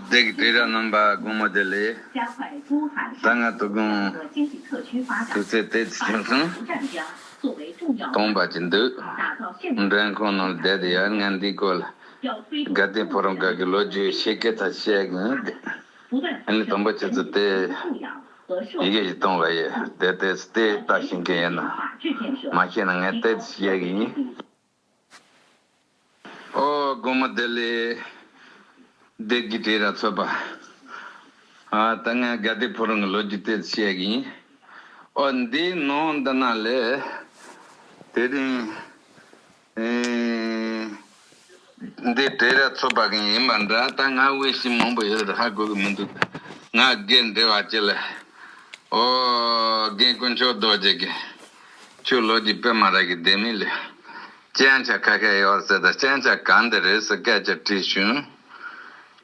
བདེ་གི་བྲིས་ར་རྣམ་པ་དགུང་མོ་དེ་ལས། ཟླ་ལྔ་དུ་དགོངས། དུས་ཚོད་དེ་ཚོད་ཆུང་སོང། སྟོང་པ་ཅི་འདུག། འགྲན་ཁང་ནང་བསྡད་དེ་ཡར་ངན་འདིའི་སྐོར་ལ། དགའ་ལྡན་ཕོ་རོང་སྒར་གྱི་ལོ་རྒྱུས་ཡི་ཤེས་སྐད་དག་བཤད་གིན་ཡོད་དེ། ཨ་ནི་དང་པོ་ཁྱེད་ཚོ་དེ། ཡི་གེ་ཞིག་གཏོང་ལ་ཡོད་དེ་དེ་ཚོ་དེ་ལྟ་བྱེད་མཁན་ཡོད་ན། མ་ཤེས་ན་ངས་དེ་ཚོ་བཤད་གིན་ཡིན། ཨོ་སྒོ་མོ་བདེ་ལེགས། བདེ་སྐྱིད་བྲིས་ར་འཚོལ་པ། ད་ངས་དགའ་བདེ་ཕོ་རོང་གི་ལོ་རྒྱུས་དེ་བཤད་གི་ཡིན། ཨོ་འདི་ནོ་འདི་ན་ལས། དེ་རིང། འདི་བྲིས་ར་འཚོལ་པ་གང་ཡིན་པ་འདྲ་ད་ང་དབུལ་ཞིང་མང་པོ་ཡོད་རེད་ཧ་གོ་གི་མི་འདུག་ད་ང་སྒེར་འབྲེལ་བ་བྱེད་ལ། ཨོ་རྒན་དཀོན་མཆོག་རྡོ་རྗེ་རྒན། ཁྱོད་ལོ་རྒྱུས་དཔེ་མ་རག་གི་བསྡད་མི་ལེ། སྤྱན་ཆ་ཁ་ཁད་ཡོད་ཟེར་ད་སྤྱན་ཆ་གང་དེ་རེད་ཟེར་སྐད་ཆ་དྲིས་བྱུང།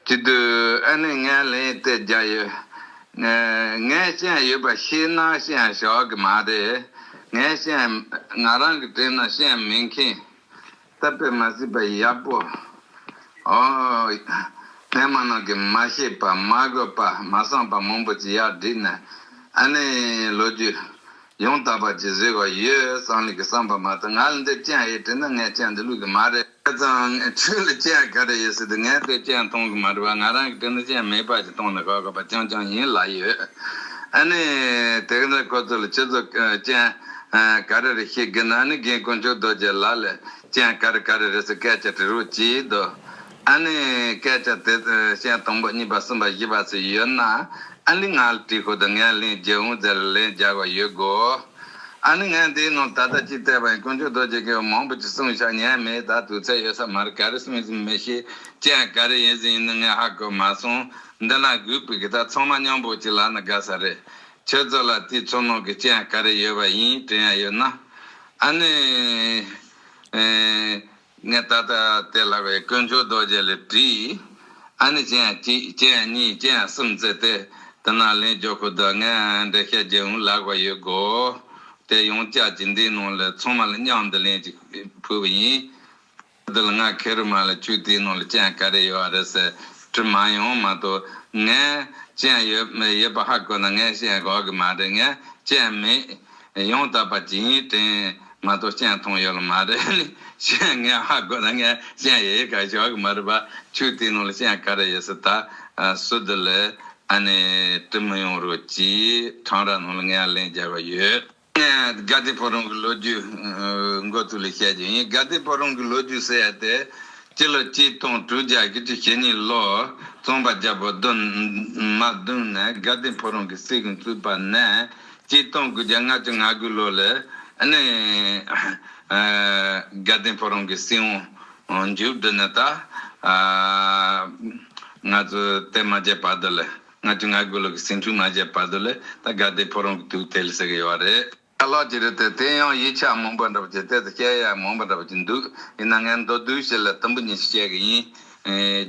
ཅི་དུས་ཨ་ནེ་ངས་ལན་གཏད་རྒྱག་ཡོད། ངས་སྤྱན་ཡོད་པ་ཤེས་ན་སྤྱན་བཞག་གི་མ་རེད། ངས་སྤྱན་ང་རང་གིས་དྲན་ན་སྤྱན་མེད་མཁན། བཏབ་པས་མ་སྲིད་པ་ཡབ་བོ། ཨོ། སྨན་མ་རྣམས་ཀྱིས་མ་ཤེས་པ་མ་གོས་པ་མ་བསམས་པ་མང་པོ་ཅི་ཡག་བསྒྲིགས་ནས་ཨ་ནི་ལོ་རྒྱུས་ཡང་དག་པ་ཅིག་བཟོས་བ་ཡོད་སང་ལུགས་ཀྱི་བསམས་པ་མ་གཏོགས་ང་ལ་འདིར་སྤྱན་ཧེ་བྲིས་ན་ངའི་སྤྱན་འདི་ལུགས་ཀྱི་མ་རེད། ཁྱེད་ཚང་ཁྱོད་ལ་སྤྱན་ག་རེ་ཡོད་སྲིད་དུ་ངའི་དུས་སྤྱན་གཏོང་གི་མ་རེད་བ་ང་རང་གི་དུས་ན་སྤྱན་མེད་པ་ཅིག་གཏོང་ན་ག་གོ་བ་རྐྱང་རྐྱང་ཡིན་ལ་ཡོད་ཨ་ནི་དེ་ག་འདྲ་ཁོ་ཚོ་ལ་ཁྱོད་ཚོ་སྤྱན་ཀ་རི་རི་ཤི་གི་ན་ནི་རྒན་དཀོན་མཆོག་རྡོ་རྗེ་ལ་ལས་ཅན་ཀ་རི་ཀ་རི་རི་སི་སྐད་ཆ་དྲི་རོ་གྱིས་དོ། ཨ་ནི་སྐད་ཆ་དེ་ཤན་དང་པོ་གཉིས་པ་གསུམ་པ་བཞི་པ་སུ་ཡོད་ན་ཨ་ལི་ང་ལ་དྲི་ཤོག་དང་ངས་ལན་བརྒྱ་འུང་ཙེ་ལ་ལན་བརྒྱ་བ་ཡོད་དགོས། ཨ་ནི་ངས་འདིའི་ནང་ད་ལྟ་ཅིག་བལྟས་པ་ཡིན་དཀོན་མཆོག་རྡོ་རྗེ་སྐད་བ་མང་པོ་ཅིག་གསུངས་ཤག་ཉན་མེད་ད་དུས་ཚད་ཡོད་ས་མ་རེད་ཀ་རི་གསུངས་ཟིན་མི་ཤེས་ཅན་ཀ་རི་ཡིན་ཟིན་ཡིན་ནི་ངས་ཧ་གོ་མ་སོང་འདི་ན་གུས་པའི་གི་ད་ཚང་མ་སྙམ་པོ་ཅིག་ལ་ན་དགའ་ས་རེད། ཁྱེད་ཚོ་ལ་དེའི་ཚོར་སྣང་གི་སྤྱི་ཡང་ག་རེ་ཡོད་པ་ཡིན་དྲན་ཡ་ཡོད་ན། ཨ་ནི། ངས་ད་ལྟ་དེ་ལྷ་བའི་དཀོན་མཆོག་རྡོ་རྗེ་ལ་དྲིས། ཨ་ནི་སྤྱི་ཡང་གཅིག་སྤྱི་ཡང་གཉིས་སྤྱི་ཡང་གསུམ་བཙལ་ཏེ། དེ་ནང་ལེན་རྒྱོ་ཁུ་དོ་ངས་འགྲེལ་ཤད་བརྒྱད་འུ་ལག་པ་ཡོད་དགོ། དེ་ཡོངས་བཅག་གཅིག་འདིའི་ནང་ལ་ཚང་མ་ལ་སྙང་འདི་ལན་གཅིག་ཕུལ་བ་ཡིན། འདི་ལ་ང་ཁེར་རུ་མ་ལ་བཅུག་དེའི་ནང་ལ་སྤྱན་ག་རེ་ཡོད་རེད་ཟེར་དྲི་མ་ཡོང་མ་ཏོ་ངས་སྤྱན་ཡོད་མེད་ཡོད་པ་ཧ་གོ་ན་ངས་སྤྱན་གོ་གི་མ་རེད་ངས་སྤྱན་མེད་ཡང་དག་པ་ཇི་ཡིན་དྲན་མ་ཏོ་སྤྱན་མཐོང་ཡོད་ལ་མ་རེད་ནི་སྤྱན་ངས་ཧ་གོ་ན་ངས་སྤྱན་ཡེ་ཡེ་ག་ཞོག་གི་མ་རེད་བཅུག་དེའི་ནང་ལ་སྤྱན་ག་རེ་ཡོད་ཟེར་ད་སུ་འདི་ལས་ཨ་ནི་དྲི་མི་ཡོང་རོགས་གྱིས་འཕྲང་ར་ནང་ལ་ངའི་ལན་རྒྱབ་པ་ཡོད། ངས་དགའ་བདེ་ཕོ་རོང་གི་ལོ་རྒྱུས་འགོ་ཚུགས་ལ་བཤད་རྒྱུ་ཡིན། དགའ་བདེ་ཕོ་རོང་གི་ལོ་རྒྱུས་ཟེར་ཡ་དེ། སྤྱི་ལོ་གཅིག་སྟོང་དྲུག་བརྒྱ་དགུ་བཅུ་ཞེ་གཉིས་ལོར་རྩོམ་པ་རྒྱ་བོ་རྡོ་མ་བརྡུངས་ནས་དགའ་བདེ་ཕོ་རོང་གི་སྲིད་དགོན་བཙུགས་པ་ནས་གཅིག་སྟོང་དགུ་བརྒྱ་ལྔ་བཅུ་ང་དགུ་ལོ་ལས་ནི། དགའ་བདེ་ཕོ་རོང་གི་སྲིད་དབང་མཇུག་བསྒྲིལ་ནས་ད། ང་ཚོའི་རྟེན་མ་རྒྱས་བར་དུ་ལས། ང་ཚོས་ང་དགོས་ལུགས་ཀྱི་སེམས་ཤུགས་གནང་བྱའི་བར་དུ་ལས་ད་དགའ་བདེ་ཕོ་རོང་གི་དུས་ཐལ་ཟེར་གི་ཡོད་རེད། ཨ་ལགས་ཀྱི་རེད་དེ་དེ་ཡང་ཡིག་ཆ་མང་པོ་འདྲ་པོ་ཆེ་དེ་དང་སྐད་ཡག་མང་པོ་འདྲ་པོ་ཆེ་འདུག་ཡིན་ན་ངས་མདོར་བསྡུས་བྱས་ལ་དུམ་བུ་གཉིས་ཤིག་བཤད་གི་ཡིན།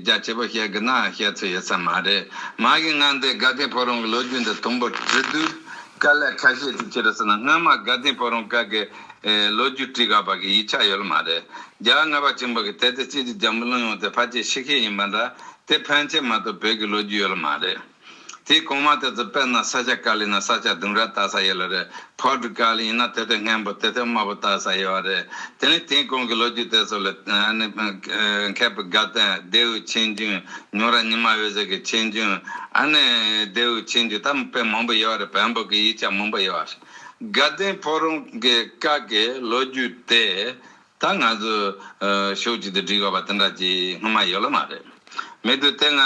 རྒྱ་ཆེ་པོ་བཤད་གི་ན་བཤད་ཚོད་ཡོད་ས་མ་རེད། མ་གིས་ང་འདི་དགའ་བདེ་ཕོ་རོང་གི་ལོ་རྒྱུས་འདི་དུམ་བུར་བྲིས་དུས་དཀའ་ལས་ཁ་ཤས་ཤིག་ཕྱིར་ཟེར་ན་སྔོན་མ་དགའ་བདེ་ཕོ་རོང་སྐབས་ཀྱི་ལོ་རྒྱུས་བྲིས་ག་བར་གྱི་ཡིག་ཆ་ཡོད་ལ་མ་རེད། རྒྱ་དམར་པ་ཆེན་པོ་གིས་དེ་ལྟར་ཅིག་ཅིག་རྒྱ་འབུ་བླུན་ཡོང་སྟེ་ཕར་ཆེར་ཤི་ཤེས་ཡིན་པ་འདྲ་དེ་ཕན་ཆད་མ་གཏོགས་བོད་ཀྱི་ལོ་རྒྱུས་ཡོད་ལ་མ་རེད། དེའི་གོང་མ་དེ་ཚོ་དཔེར་ན་ས་ཆ་ཀ་ལི་ན་ས་ཆ་ལྡུམ་ར་བཏགས་ས་ཡོད་ལ་རེད་ཕོར་ཏུ་ཀལ་ཡིན་ན་དེ་ཐོད་སྔན་པོ་དེ་ཐོད་དམའ་པོ་བཏགས་ས་ཡོད་བ་རེད་དེ་ནི་དེའི་གོང་གི་ལོ་རྒྱུས་དེ་ཚོ་ལས་མཁས་པའི་དགའ་ལྡན་ལྡེའུ་ཆེན་རྒྱུན་ཉུང་ར་ཉི་མ་འོད་ཟེར་གྱི་ཆེན་རྒྱུན་ལྡེའུ་ཆེན་རྒྱུན་ད་དཔེ་མང་པོ་ཡོད་བ་རེད་བོན་པོ་གི་ཡིག་ཆ་མང་པོ་ཡོད་བ་རེད་དགའ་ལྡན་ཕོ་རོང་གི་བཀའ་གི་ལོ་རྒྱུས་དེ། ད་ང་ཚོས་ཤོག་ཅིག་ཏུ་བྲིས་དགོས་པ་དེ་འདྲ་ཅིག་སྔོན་མ་ཡོད་ལ་མ་རེད། མེད་དུས་དེ་སྔ་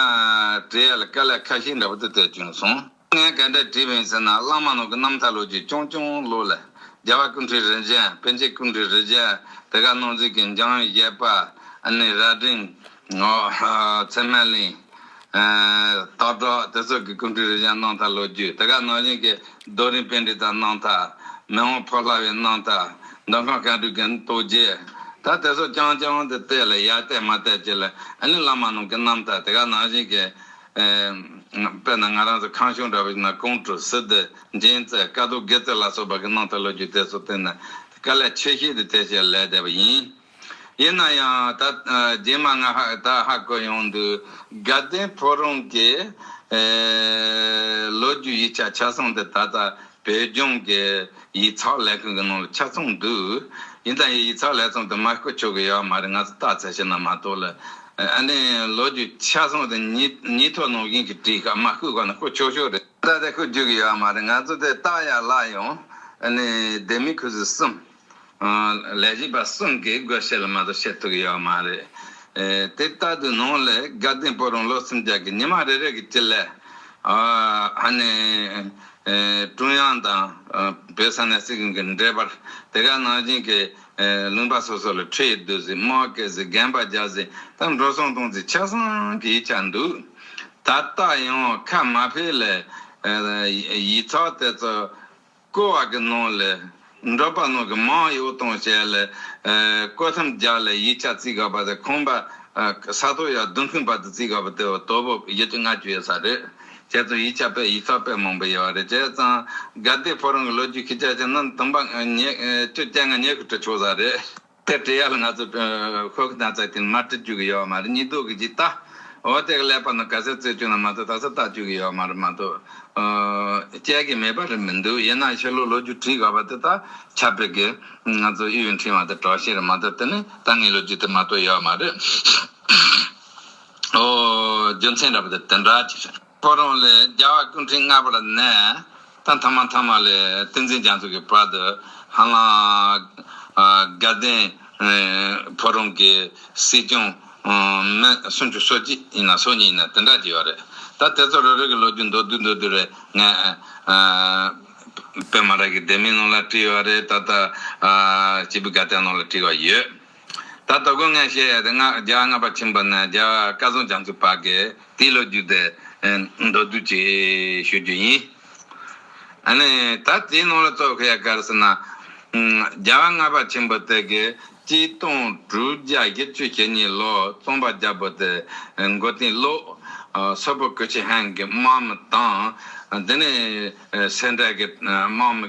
བྲིས་ཡ་ལ་དཀའ་ལས་ཁ་ཤས་འདྲ་པོ་དེ་བལྟས་བྱུང་སོང། ངས་ག་འདྲ་བྲིས་མིན་ཟེར་ན་བླ་མ་ནོར་གྱི་རྣམ་ཐར་ལོ་རྒྱུས་ཅུང་ཅུང་ཀློག་ལ། རྒྱལ་བ་ཀུན་བྲིས་རི་འཇན་པན་ཆེན་ཀུན་བྲིས་རི་འཇན་དེ་ག་ནོར་འཛིན་གྱི་འཇང་བཞད་པ། ཨ་ནེ་རྭ་སྒྲེང། ཚད་མ་གླིང། སྟག་བྲག་དེ་ཚོ་གི་སྐུ་འཁྲུངས་རི་བྱང་སྣང་མཐའ་ལོ་རྒྱུས་དེ་ག་ནང་བཞིན་གྱི་རྡོ་རིང་བེ་འབྲི་དང་སྣང་མཐའ། མི་དབང་ཕོ་ལྷ་བའི་སྣང་མཐའ། མདོ་ཁམས་བཀའ་འགྲོའི་གན་རྟོ་རྒྱས། ད་དེ་ཚོ་རྐྱང་རྐྱང་དུ་བལྟས་ལ་ཡར་བལྟས་མར་བལྟས་བྱས་ལ་ཨ་ལིང་བླ་མ་རྣམས་ཀྱི་སྣང་མཐའ་དེ་ག་ནང་བཞིན་གྱི། དཔེར་ན་ང་རང་ཚོ་ཁང་གཞུང་འདྲ་བ་ཞིག་ན་ཀོང་སྤྲུལ་སི་ཏི་མཇལ་མཛད་དཀའ་ཟློག་དགེ་བརྩེགས་ལ་སོགས་པ་གི་སྣང་མཐའ་ལོ་རྒྱུས་དེ་ཚོ་བལྟས་ན་དཀའ་ལས་ཆེ་ཤེལ་དུ་བལྟས་བྱས་ལས་འདས་པ་ཡིན། ཡིན་ན་ཡང་ད་རྗེས་མ་ང་ད་ཧ་གོ་ཡོང་འདུག་དགའ་ལྡན་ཕོ་རོང་གི་ལོ་རྒྱུས་ཡིག་ཆ་ཆ་ཚང་འདི་ད་ལྟ་བོད་ལྗོངས་ཀྱི་ཡིག་ཚགས་ལས་ཁང་གི་ནང་ལ་ཆ་ཚང་འདུག་ཡིན་ད་ཡིན་ཡིག་ཚགས་ལས་ཚང་དུ་མ་བསྐུར་ཆོག་གི་ཡོད་མ་རེད་ང་ཚོ་བལྟ་ཚད་ཞིག་ན་མ་གཏོགས་ལ་ཨ་ནེ་ལོ་རྒྱུས་ཆ་ཚང་དེ་ཉིས་ཐོག་ནང་བཞིན་གྱི་བྲིས་ཁ་མ་བསྐུར་གོ་ན་བསྐུར་ཆོག་ཆོག་རེད། ད་ལྟ་བསྐུར་རྒྱུ་གི་ཡོད་མ་རེད་ང་ཚོ་དེ་བལྟ་ཡག་ལ་ཡང་ཨ་ནེ་སྡེ་མི་ཁུ་སིམ། ལས་བྱེད་པ་གསུམ་གྱིས་བགོ་བཤའ་ལ་མ་གཏོགས་བྱེད་ཐུབ་ཀྱི་ཡོད་མ་རེད། དེ་ལྟ་དུས་ནང་ལས་དགའ་ལྡན་པོ་རང་ལོ་སུམ་བརྒྱ་གི་ཉི་མ་རེ་རེ་གི་སྤྱི་ལས། ཧ་ནས། ཀྲུང་དབྱང་དང་བོད་ས་གནས་སྲིད་གཞུང་གི་འབྲེལ་བར་དེ་ག་ནང་བཞིན་གྱི་ལུང་པ་སོ་སོ་ལ་ཁྲི་ཡིས་བསྡུས་ཟིན་དམག་སྐད་ཟིན་རྒན་པ་བརྒྱ་ཟིན་དང་འགྲོ་སོང་གཏོང་ཚིག་ཆ་ཚང་གི་ཡིག་ཆ་འདུག་ད་ལྟ་ཡང་ཁ་མ་ཕེ་ལས། ཡིག་ཚགས་དེ་ཚོ། བསྐོལ་བ་གྱི་ནང་ལས། འབྲོག་པ་ནང་གི་མང་གཡོག་དང་བཅས་ལས། བསྐོལ་མཚམས་སྦྱར་ལས་ཡིག་ཆ་རྩིས་དགོས་པ་དེ་ཁང་པ། ས་རྡོ་ཡར་བརྡུང་མཁན་བར་དུ་རྩིས་དགོས་པ་དེ་བ་དོལ་པོ་ཡུལ་གྱི་སྔ་ཕྱི་ཡོད་ས་རེད། ཁྱེད་ཚོ་ཡིག་ཆ་དཔེ་ཡིག་ཚགས་དཔེ་མང་པོ་ཡོད་བ་རེད་བྱས་ཙང། དགའ་བདེ་ཕོ་རང་གི་ལོ་རྒྱུས་ཁྱི་སྐྱག་ཅན་རྣམས་དུམ་པ། བཅུ་སྐྱེ་ལྔ་ཉེར་དགུ་དྲུག་ཆོག་ས་རེད། དེར་དྲི་ཡ་ལ་ང་ཚོ་ཁོ་གི་ན་ཚ་དེ་ནི་མར་དྲི་བཅུག་གི་ཡོད་མ་རེད་སྙིགས་དོག་གི་ཅིག་བལྟ། འོ་དེ་ག་ལས་པར་ན་ག་ཟེ་བཙོས་བཅུག་ན་མ་ཚ་ད་ཚ་བཏགས་བཅུག་གི་ཡོད་མ་རེད་མ་གཏོགས་དཔྱད་གི་མེད་པ་རེད་མི་འདུག་ཡིན་ན་ཕྱི་ལོ་ལོ་རྒྱུས་བྲིས་དགོས་པ་དེ་དག་ཆབ་སྤེལ་གི་ང་ཚོ་དབྱི་ཡུལ་འཕྲིན་བ་དང་གྲོགས་ཤིག་རེད་མ་གཏོགས་དེ་ནི་ད་སྔའི་ལོ་རྒྱུས་དེ་མ་གཏོགས་ཡོད་མ་རེད། ཨོ་རྒྱུ་མཚན་ར་བ་དེ་དེ་འདྲ་ཅིག་རེད། ཐོ་རངས་ལས་རྒྱལ་བ་ཀུན་འཕྲིན་མངའ་བར་གནས། ཐང་ཐང་མ་ཐང་མ་ལས་ཏིང་འཛིན་རྒྱ་མཚོ་གི་བར་དུ་ཧ་ལམ། དགའ་ལྡན་ཕོ་རོང་གི་སྲིད་སྐྱོང་མི་སུམ་ཅུ་སོ་གཅིག་ཡིན་ན་སོ་གཉིས་ཡིན་ན་དེ་འདྲ་གྱི་ཡོད་རེད། ད་དེ་ཚོ་རེ་རེ་གི་ལོ་རྒྱུས་མདོར་བསྡུས་མདོར་བསྡུས་རེད་ངས་པད་མ་ར་གི་སྡེ་མིའི་ནང་ལ་བྲིས་ཡོད་རེད་ད་ལྟ་སྤྱི་བོའི་དགའ་ལྡན་ནང་ལ་བྲིས་བ་ཡོད། ད་ལྟ་དགོས་ངེས་བཤད་ཡ་དེ་སྔགས་རྒྱ་སྔ་བ་ཆེན་པོ་ནས་རྒྱ་བཀའ་བཟང་རྒྱ་མཚོ་བ་གའི་དེའི་ལོ་རྒྱུས་དེ་མདོར་བསྡུས་ཀྱིས་ཞུ་རྒྱུ་ཡིན། ཨ་ནི་ད་དེའི་ནང་ལ་གཙོ་བཤད་ག་རེ་ཟེར་ན། རྒྱ་བ་སྔ་བ་ཆེན་པོ་དེ་གའི་སྤྱི་སྟོང་དྲུག་བརྒྱ་བཞི་ཅུ་ཞེ་གཉིས་ལོ་རྩོམ་པ་རྒྱ་བོ་དེ་མགོ་རྟིང་བློ་གསལ་པོ་ཀུ་ཆི་ཧན་གྱི་དམག་མི་དང་དེ་ནས་སེ་འབྲས་ཀྱི་དམག་མི།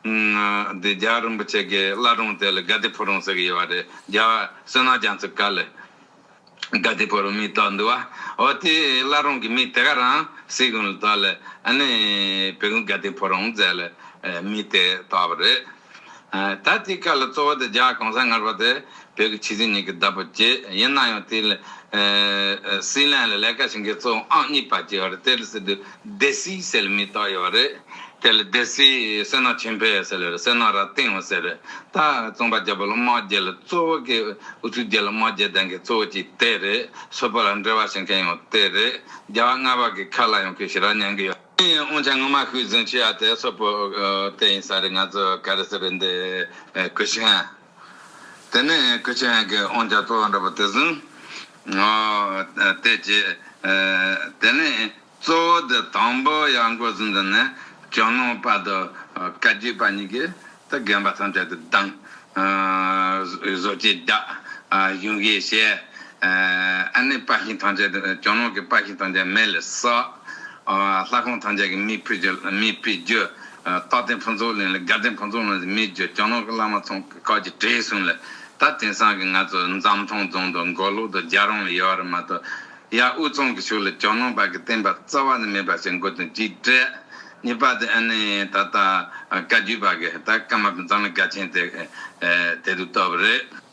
འདི་རྒྱ་རིན་པོ་ཆེ་གི་བླ་སྒྲུང་དེ་ལ་དགའ་བདེ་ཕོ་རོང་ཟེར་གི་ཡོད་པ་རེད་རྒྱ་བསོད་ནམས་རྒྱ་མཚོས་བཀའ་ལས་དགའ་བདེ་ཕོ་རོང་མི་གཏོགས་འདུག་བ་འོ་དེའི་བླ་སྒྲུང་གི་མི་དེ་ག་རང་སྲིད་གོང་ལ་གཏོགས་ལས་ཨ་ནི་བོད་གོང་དགའ་བདེ་ཕོ་རོང་ཟེར་ལས་མི་དེ་གཏོགས་པ་རེད་ད་དེའི་བཀའ་ལ་གཙོ་བོ་དེ་རྒྱ་གོང་ས་མངར་བ་དེ་བོད་ཀྱི་ཆུ་ཚན་ཉིད་ཀྱི་བདག་པོ་བཅས་ཡིན་ན་ཡང་དེ་ལ་སྲིད་བློན་ལ་ལས་ཀ་བྱེད་མཁན་གཙོ་བོ་ཨང་གཉིས་པ་བཅས་ཡོད་རེད་དེ་ལ་སྲིད་དུ་སྡེ་སྲིད་ཟེར་མི་དག་ཡོད་རེད་དེ་ལ་སྡེ་སྲིད་བསོད་ནམས་ཆོས་འཕེལ་ཟེར་ལོས་རེད་བསོད་ནམས་རབ་བརྟན་ཟེར་རེད་ད་རྩོམ་པ་རྒྱ་བོད་ལ་དམག་རྒྱལ་ལ་གཙོ་བོ་གི་ཨུ་ཚུགས་རྒྱལ་ལ་དམག་རྒྱལ་ལྡན་མཁན་གཙོ་བོ་གཅིག་དེ་རེད་བཟོ་པོ་ལ་འབྲེལ་བ་བྱེད་མཁན་ཡང་དེ་རེད་རྒྱ་བ་རྔ་བ་གི་ཁ་ལ་ཡང་གུས་ཞེ་རག་མཉན་གི་ཡོད། འོན་ཀྱང་ངོ་མ་ཤུགས་བཟུང་བྱས་ཡ་དེ་བཟོ་པོ་དེ་ཡིན་ས་རེད་ང་ཚོ་ག་རེ་ཟེར་རེད་འདི་གུས་ཞེན། དེ་ནས་སྐུ་ཆེན་གྱི་དབང་ཆ་གཙོ་བོ་འདྲ་པོ་དེ་ཟིན། དེ་རྗེས་དེ་ནས་གཙོ་བོ་དེ་དང་པོ་ཡར་འགོ་ཟིན་དེ་ནས་ཇོ་ནང་དཔའ་རྡོ་བཀའ་བརྒྱུད་པ་གཉིས་ཀྱིས་དེ་རྒན་པ་ཐམས་ཅད་དེ་བདམས། བཟོ་བཅོས་རྒྱག། གཞུང་བཞེས་བྱས། ཨ་ནེ་དཔའ་ཤིང་ཐམས་ཅད་དེ་ཇོ་ནང་གི་དཔའ་ཤིང་ཐམས་ཅད་མེ་ལས་བསགས། ལྷ་ཁང་ཐང་ཅག་གི་མི་ཕུད་རྒྱུ། མི་ཕུད་རྒྱུ། རྟག་བརྟན་ཕུན་ཚོགས་གླིང་ལ་དགའ་ལྡན་ཕུན་ཚོགས་གླིང་ལ་མི་རྒྱུ་ཀྱང་ནོར་གི་བླ་མ་ཚང་གི་ཁག་ཅིག་བྲེལ་སོང་ལ་ད་དེང་སང་གི་ང་ཚོ་འཛམ་ཐང་རྫོང་དུ་མགོ་ལོག་ཏུ་རྒྱ་རང་ལ་ཡོད་ར་མ་གཏོགས་ཡ་དབུས་གཙང་གི་ཕྱོགས་ལ་ཀྱང་ནོར་བར་གི་བསྟན་པ་རྩ་བ་ནས་མེད་པ་ཞིག་མགོ་དོན་གཅིག་དྲན། གཉིས་པ་དེ་ཨ་ནི་ད་ལྟ་བཀའ་བརྒྱུད་བར་གི་ད་སྐར་མ་པའི་འཛམ་གླིང་དགའ་ཆེན་དེ་དེ་དུ་ལྟ་བུ་རེད།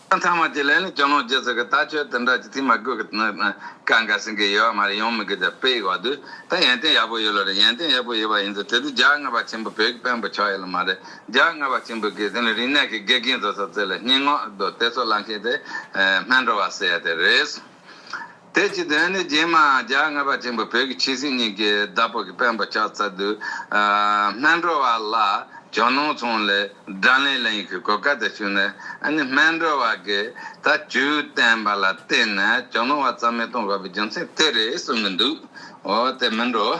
ཚང་མ་དེ་ལས་ནི་སྐྱོ་ནོར་རྒྱུ་ཟེར་གི་ད་ཁྱོད་དེ་འདྲ་ཅི་ཐིག་མ་དགོས་གི་ནི་ཀ་འགའ་ཟིན་གི་ཡོད་བ་མ་རེད་ཡོང་མི་དགོས་ད་བེད་ཡོད་དུས་ད་ཡན་ཏན་ཡག་པོ་ཡོད་ལོ་རེད་ཡན་ཏན་ཡག་པོ་ཡོད་བ་ཡིན་དུས་དེ་དུས་རྒྱ་དངའ་བ་ཆེན་པོ་བོད་ཀྱི་དཔོན་པོ་ཆགས་ཡོད་ལ་མ་རེད་རྒྱ་དངའ་བ་ཆེན་པོ་གིས་དེ་ནི་རིག་གནས་ཀྱི་དགེ་རྒན་བཟོ་ས་བཙལ་ལ་སྙིང་ངོ་དེ་ཚོ་ལམ་ཤེས་དེ་སྨད་འགྲོ་བ་ཟེར་ཡ་དེ་རེད། དེ་ཅི་དོན་ནི་རྗེས་མ་རྒྱ་རྔ་པ་ཆེན་པོ་བོད་ཀྱི་ཁྱི་སེང་གཉིས་ཀྱིས་ཟླ་ཕོག་གི་དཔོན་པོ་ལྕགས་ཚ་དུལ་སྨད་འགྲོ་བ་ལ་ཇོ་ནང་ཚོང་ལས་སྒྲ་ལེན་ལེན་གྱི་གོ་སྐལ་དེ་ཞུས་ནས་ཨ་ནི་སྨད་འགྲོ་བ་གིས་ད་ཇུས་བསྟན་པ་ལ་བརྟེན་ནས་ཇོ་ནང་བ་ཙམ་མི་གཏོང་དགོས་པའི་རྒྱུ་མཚན་དེ་རེད་གསུངས་གི་འདུག་འོ་དེ་མིན་འགྲོ།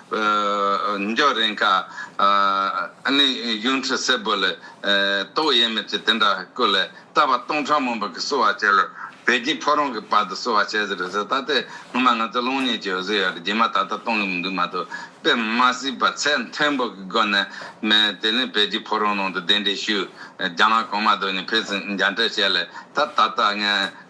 འཇོག་རན་ཁ། ནི་གཡུང་དྲུང་སེར་པོ་ལས། ཏོག་དབྱེ་མེད་ཅེས་དེ་འདྲ་བཀོད། ལས་བཏབ་པ་སྟོང་ཕྲག་མང་པོ་གིས་གསོལ་བ་བྱས། ལས་བད་ཀྱིས་ཕོ་རོང་གི་བར་དུ་གསོལ་བ་བྱས་ཟེར་བས་ད་ལྟའི་སྔོན་མ་ང་ཚོའི་སློང་གཉེན་གྱི་འོད་ཟེར་ཡོད་རེད་རྗེས་མ་ད་ལྟ་གཏོང་གི་མི་འདུག་མ་གཏོགས་དཔེ་མ་སྲིད་པ་ཚད་མཐོན་པོ་གི་སྒོ་ནས་མེད་དེ་ལས་བད་ཀྱིས་ཕོ་རོང་ནང་དུ་གདན་འདྲེན་ཞུས་རྒྱ་ནག་གོང་མ་དོ་ནི་ཕེབས་ཚེ་མཇལ་འཕྲད་བྱས་ལས་ད་ད་ལྟ་ངས།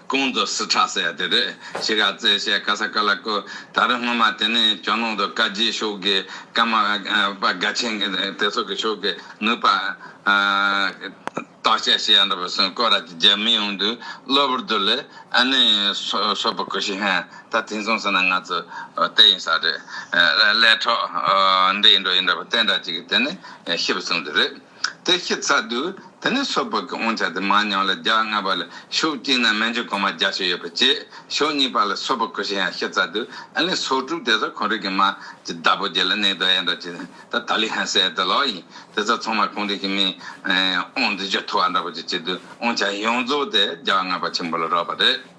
ཀོང་ཙོ་སི་ཁྲ་སེ་དེ་རེད་ཞེས་ག་ཚད་བཤད་ག་ས་ག་ལ་ཀོ་ད་རེ་སྔོན་མ་དེ་ནས་ཇོ་ནང་དུ་བཀའ་རྒྱའི་ཤོག་གི་བཀའ་མ་པ་དགའ་ཆེན་གི་དེ་སོག་གི་ཤོག་གི་ནུས་པ་བརྟག་དཔྱད་བྱེད་ཡ་འདྲ་པོ་སོང་ཀོ་ར་ཅི་རྒྱ་མི་ཡོང་དུས་གློ་བུར་དུ་ལས་ཨ་ནི་སོག་པོ་ཀོ་ཤི་ཧན་ད་དེང་སོང་ཟེར་ན་ང་ཚོ་བལྟས་ཡིན་ས་རེད་ལས་གྲོགས་འདི་ཡིན་འགྲོ་ཡིན་འདྲ་པོ་བལྟས་འདྲ་ཅིག་གི་དེ་ནས་ཤི་བ་སོང་དུས་རེད། དེ་བཞི་རྩ་བདུན་དེ་ནས་སོ་ཕག་གི་འོང་བྱ་དེ་མ་མྱང་ལ་བརྒྱ་ལྔ་པ་ལ་ཞོ་བཅིངས་ན་མན་ཇུ་གོང་མ་བརྒྱ་བཅུ་ཡོད་པར་བྱེད། ཞོ་གཉིས་པ་ལ་སོ་ཕག་གོ་ཞེས་ཡང་བཞི་རྩ་བདུན་ཨེ་ལིན་སོ་དྲུག་དེ་ཚ་གོང་རིགས་ཀྱི་མ། ཀྱི་བདག་པོ་བརྒྱད་ལ་གནས་དུ་ཨེ་འགྲོ་བྱེད། ད་ད་ལི་ཧན་སའི་དེ་ལོག་ཡིན་དེ་ཚ་ཚང་མ་གོང་རིགས་ཀྱི་མིན། འོང་དུ་བཞི་ཐུ་བ་འདྲ་པོ་ཅིག་བྱེད་དུས་འོང་བྱ་ཡོངས་རྫོགས་དེ་བརྒྱ་ལྔ་པ་ཆེན་པོ་ལ་རག་པ་རེད།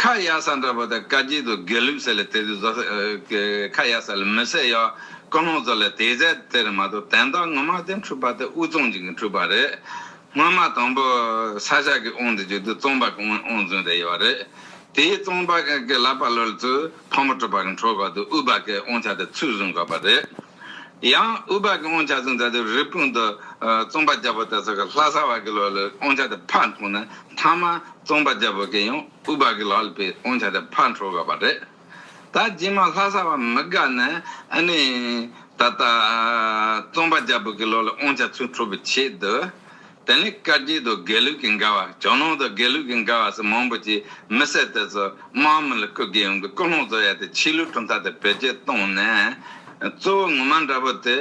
ཁ་གཡར་ས་འདྲ་པོ་དེ་བཀའ་དཀྱིལ་དུ་དགེ་ལུགས་ཟེར་ལས་དེ་དུས་བཟའ་ཁ་གཡར་ས་ལས་མི་ཟེར་ཡ་ཀུན་སློང་ཟེར་ལས་དེ་ཟེར་དེར་མ་གཏོགས་དན་རྟགས་ངོ་མ་དེ་འཁྲུལ་པ་དེ་དབུས་གཙང་གཅིག་གིས་འཁྲུལ་པ་རེད། སྔོན་མ་དང་པོ་ས་སྐྱ་གིས་དབང་དེ་བྱོས་དུས་གཙང་པ་གིས་དབང་བཟུང་བསྡད་ཡོད་རེད། དེའི་གཙང་པ་གིས་ལབ་པ་ལོལ་དུས་ཕག་མོ་གྲུ་པ་གིས་འཁྲོལ་དགོས་དུས་དབུས་པ་གིས་དབང་ཆ་དེ་ཚུར་བཟུང་དགོས་པ་རེད། ཡང་ཨུ་བག་གི་དབང་ཆ་ཟིན་ཚར་དུས་རི་སྤུངས་དུ་རྩོམ་པ་རྒྱལ་པོ་དེ་ཚོ་གི་ལྷ་ས་བར་གི་ལོགས་ལས་དབང་ཆ་དེ་ཕར་འཐོང་ནས་མཐའ་མ་རྩོམ་པ་རྒྱལ་པོ་གིས་ཡང་ཨུ་བག་གི་ལག་ལས་པའི་དབང་ཆ་དེ་ཕར་འཕྲོག་དགོས་པ་རེད། ད་རྗེས་མ་ལྷ་ས་བ་མི་དགའ་ནས་ཨ་ནི་ད་ལྟ་རྩོམ་པ་རྒྱལ་པོ་གི་ལོགས་ལས་དབང་ཆ་ཚུར་འཕྲོག་པའི་ཆེད་དུ་དེ་ནི་བཀའ་བརྒྱུད་དང་དགེ་ལུགས་ཀྱི་འགལ་བ་ཇོ་ནང་དང་དགེ་ལུགས་ཀྱི་འགལ་བ་སོགས་མང་པོ་ཅིག་མི་བསད་དེ་ཚོ་དམག་མི་ལ་བསྐུར་དགོས་ཡོང་གི་ཀུན་སློང་བཟོ་ཡ་དེ་ཕྱི་ལུགས་གྲུབ་མཐའ་དེ་བེད་སྤྱོད་གཏོང་ནས་གཙོ་བོ་ངོ་མ་འདྲ་པོ་དེ་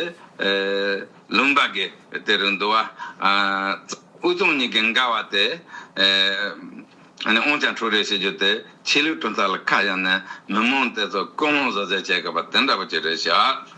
ལུང་པ་དགེ་དེ་རུ་འདུ་བ་དབུས་གཙང་གཉིས་ཀྱི་འགལ་བ་དེ་འོང་ཀྱང་འཁྲུག་རེས་བྱེད་རྒྱུ་དེ་ཕྱི་ལུགས་གྲུབ་མཐའ་ལ་ཁ་གཡར་ནས་མི་མང་དེ་ཚོ་ཀུན་སློང་བཟོ་རྩལ་བྱེད་དགོས་པ་དེ་འདྲ་པོ་ཅིག་རེད་ཤག།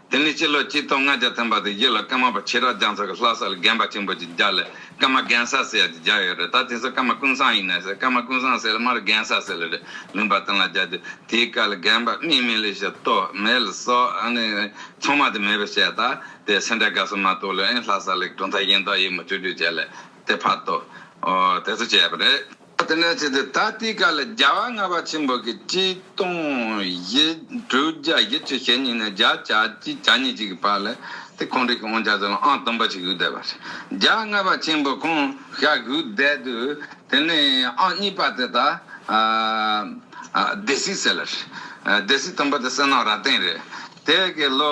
དེ་ནས་སྤྱི་ལོ་གཅིག་སྟོང་ལྔ་བརྒྱ་ཐམ་པ་དང་བཞི་ལ་ཀརྨ་པ་ཕྱི་རབས་རྒྱ་མཚོ་གི་ལྷ་ས་ལ་རྒན་པ་ཆེན་པོ་ཅིག་བརྒྱག་ལས་ཀརྨ་རྒན་ས་ཟེར་ཡ་ཅིག་བརྒྱག་ཡོད་རེད་ད་དེ་ཚོ་ཀརྨ་ཀུན་བཟང་ཡིན་ནས་ཟེར་ཀརྨ་ཀུན་བཟང་ཟེར་ལ་མར་རྒན་ས་ཟེར་ལ་རེད་མིན་པ་དང་ལ་རྒྱ་དེ་དེའི་སྐབས་ལ་རྒན་པ་སྨིན་མེད་ལས་ཤེ་སྟོད་མེད་ལ་སོགས་ནས་ཚང་མ་དེ་མེད་པ་བཤད་ད་དེ་སེ་འབྲས་དགའ་སོ་མ་གཏོགས་ལས་ལྷ་ས་ལ་གྲུབ་མཐའ་གཞན་དག་ཡོད་མ་བཅོས་བཅོས་བྱས་ལས་དེ་ཕར་དོ་དེ་ཚོ་བྱས་པ་རེད། དེ་ནས་བྱས་ཏེ་ད་ལྟའི་ཀ་ལ་རྒྱལ་བ་ལྔ་པ་ཆེན་པོ་གི་སྤྱི་སྟོང་བཞི་དྲུག་བརྒྱ་བཞི་བཅུ་ཞེ་གཉིས་ནས་བརྒྱ་ཆ་གཅིག་གྱ་གཉིས་ཅིག་གི་བར་ལ་དེ་ཁོང་རིགས་ཀྱི་དབང་ཆ་ཟིལ་ལོང་ཨང་དང་པོ་ཞིག་བཞུགས་བསྡད་པ་རེད། རྒྱལ་བ་ལྔ་པ་ཆེན་པོ་ཁོང་ཤ་བཞུགས་བསྡད་དུས་དེ་ནས་ཨང་གཉིས་པ་དེ་དག་སྡེ་སྲིད་ཟེར་ལ། སྡེ་སྲིད་དང་པོ་དེ་གསེར་ནག་རྭ་སྟེང་རེད། དེ་གའི་ལོ་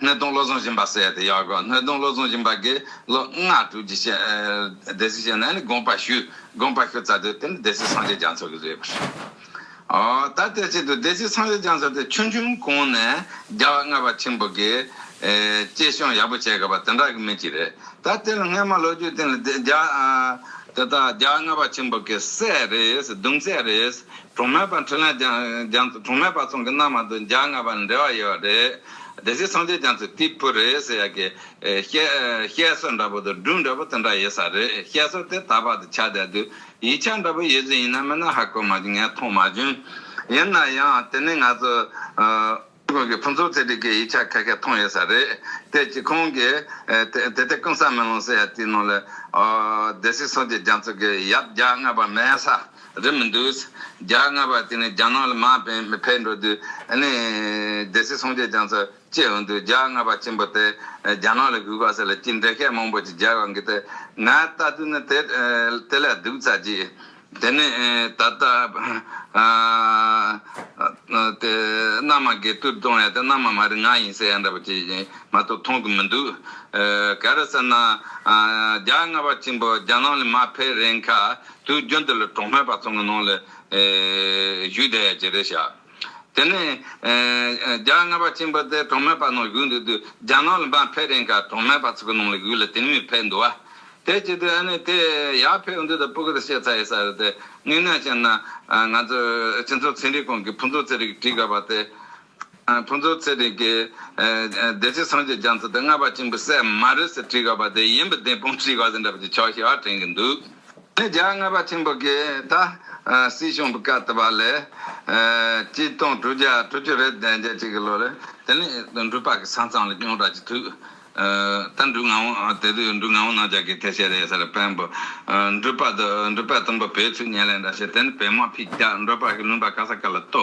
སྣོད་སྟོང་བློ་བཟང་སྦྱིན་པ་སྲས་དེ་ཡག་གོ་སྣོད་སྟོང་བློ་བཟང་སྦྱིན་པ་གི་ལོ་ལྔ་དྲུག་གི་ཞལ་སྡེ་སྲིད་ཞལ་ནས་ནི་དགོངས་པ་ཞུས་དགོངས་པ་ཞུ་ཙ་དེ་དེ་ནི་སྡེ་སྲིད་སངས་རྒྱས་རྒྱ་མཚོ་གི་རེད་པར་ཨོ་ད་དེར་ཆེད་དུ་སྡེ་སྲིད་སངས་རྒྱས་རྒྱ་མཚོ་དེ་ཆུང་ཆུང་གོང་ནས་རྒྱལ་བ་ལྔ་པ་ཆེན་པོ་གི་སྐྱེད་བཤོམ་ཡག་པོ་བྱེད་དགོས་པ་དེ་འདྲ་གི་མི་གཅིག་རེད་ད་དེ་ལ་སྔས་མ་ལོ་རྒྱུས་སྟེང་ལ་དེ་རྒྱ་དེ་དག་རྒྱལ་བ་ལྔ་པ་ཆེན་པོ་གི་སྲས་རེད་གདུང་སྲས་རེད་གྲོང་མེད་པ་འཕྲིན་ལས་རྒྱ་མཚོ་གྲོང་མེད་པ་ཚང་གི་མནའ་མ་དུ་རྒྱལ་བ་ལྔ་པ་ལ་འབྲེལ་བ་ཡོད་རེད། བདེ་གཤེགས་སངས་རྒྱས་ཀྱང་ཚེ་འདི་བུ་རེད་ཟེར་ཡ་གི། བཤད་སྲོལ་འདྲ་པོ་དང་སྒྲུང་འདྲ་པོ་དེ་འདྲ་ཡོད་ས་རེད་བཤད་སྲོལ་དེ་ད་བར་དུ་ཆགས་བསྡད་དུས་ཡིག་ཆ་འདྲ་པོ་ཡོད་ཚུལ་ཡིན་ན་མིན་ན་ཧ་གོ་མ་བྱུང་ངས་མཐོང་མ་བྱུང། ཡིན་ན་ཡང་དེ་ནི་ང་ཚོ་ཁུལ་གྱི་ཕུན་ཚོགས་ཚེ་རིང་གི་ཡིག་ཆ་ཁ་ཁས་མཐོང་ཡོད་ས་རེད་དེ་གཅིག་ཁོང་གིས་དེ་ལྟའི་ཀུན་བཟང་མེ་ལོང་ཟེར་ཡ་དེའི་ནང་ལ་བདེ་གཤེགས་སངས་རྒྱས་རྒྱ་མཚོ་གི་ཡབ་བརྒྱ་རྔ་བ་མེད་ས། རེད་མི་འདུག། རྒྱ་དངོས་པ་དེ་ནི་རྒྱ་ནག་ལ་མ་ཕེབས་འགྲོ་དུས་ནས་རྒྱལ་སྲིད་སྲུང་བཅད་ཀྱང་ཚར་བཅད་འོང་དུས་རྒྱ་དངོས་པ་ཆེན་པོ་དེ་རྒྱ་ནག་ལ་གུས་པ་ཟེར་ལ་ཅི་འདྲའི་ཤས་མང་པོ་ཅིག་རྒྱལ་བ་འགས་ཏེ་ང་ལྟ་དུས་ནི་དེ་དེ་ལས་སྡུག་ཚར་གྱི། དེ་ནི་ད་ལྟ་དེ་མནའ་མ་འགས་དུས་གཏོང་ཡ་དེ་མནའ་མ་མ་རིག་ང་ཡིན་ཟེར་ཡ་འདྲ་པོ་ཅིག་ཡིན་མ་གཏོགས་མཐོང་གི་མི་འདུག། ག་རེ་ཟེར་ན། རྒྱ་དངོས་པ་ཆེན་པོ་རྒྱ་ནག་ལ་མ་ཕེབས་རན་ཁ་དུས་རྒྱུན་དུ་ལ་གྲོང་སྨད་པ་ཚང་གི་ནང་ལ་བཞུགས་བསྡད་ཡ་ཇི་རེད་བྱ། དེ་ནས་རྒྱ་རྔ་པ་ཆེན་པོ་དེ་གྲོང་སྨད་པ་ནང་བཞུགས་འདུག་དུས་རྒྱ་ནག་ལ་འབངས་ཕེབས་རན་ཁར་གྲོང་སྨད་པ་ཚང་གི་ནང་ལ་བཞུགས་ལ་དེང་མི་ཕེབས་འདུག་བ། དེ་ཅི་དུས་ཨ་ནི་དེ་ཡག་ཕེབས་འདུག་ད་པུ་གུ་དང་བཤད་ཚར་ཡོད་ས་རེད་དེ། དངོས་གནས་བཤད་ན་ང་ཚོ་སྤྱི་ཚོགས་ཚན་རིག་ཁང་གི་ཕུན་ཚོགས་ཚེ་རིང་གིས་བྲིས་དགའ་བ་དེ། ཕུན་ཚོགས་ཚེ་རིང་གིས། བདེ་སྐྱིད་སངས་རྒྱས་རྒྱ་མཚོ་དེ་རྔ་པ་གཅིག་འབུ་སྲད་མ་རེད་ཟེར་བྲིས་ག་པ་དེ་ཡིན་པ་དེ་སྤུན་བྱིས་ག་ཟེར་འདྲ་པོ་ཅིག་ཆོག་ཤེས་བ་དྲན་གི་འདུག་དེ་རྒྱ་རྔ་པ་ཆེན་པོ་གིས་ད། སྲིད་གཞུང་བཀའ་བཏུ་བ་ལས། གཅིག་སྟོང་དྲུག་བརྒྱ་དྲུག་ཅུ་རེ་བདེ་འཇགས་གཅིག་གི་ལོ་རེ། དེ་ནས་འབྲུག་པ་གི་ས་མཚམས་ལ་རྐྱོང་གྲགས་ཀྱི་དུས། ད་འབྲུག་ང་བོ་དེ་དུས་འབྲུག་ང་བོ་ནང་བཅའ་གི་ཐེ་བྱས་རེད་ཟེར་བན་བུ། འབྲུག་པ་དུ་འབྲུག་པའི་གཏུམ་པོ་བོད་ཚུལ་ཉན་ལེ་འདྲ་བྱས་དེ་ནས་བོད་དམག་ཕིག་རྒྱག་འབྲུག་པ་གི་བླུན་པ་ག་ས་ག་ལ་བཏུ།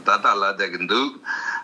ད་ལྟ་ལ་བསྡད་ཀྱི་འདུག་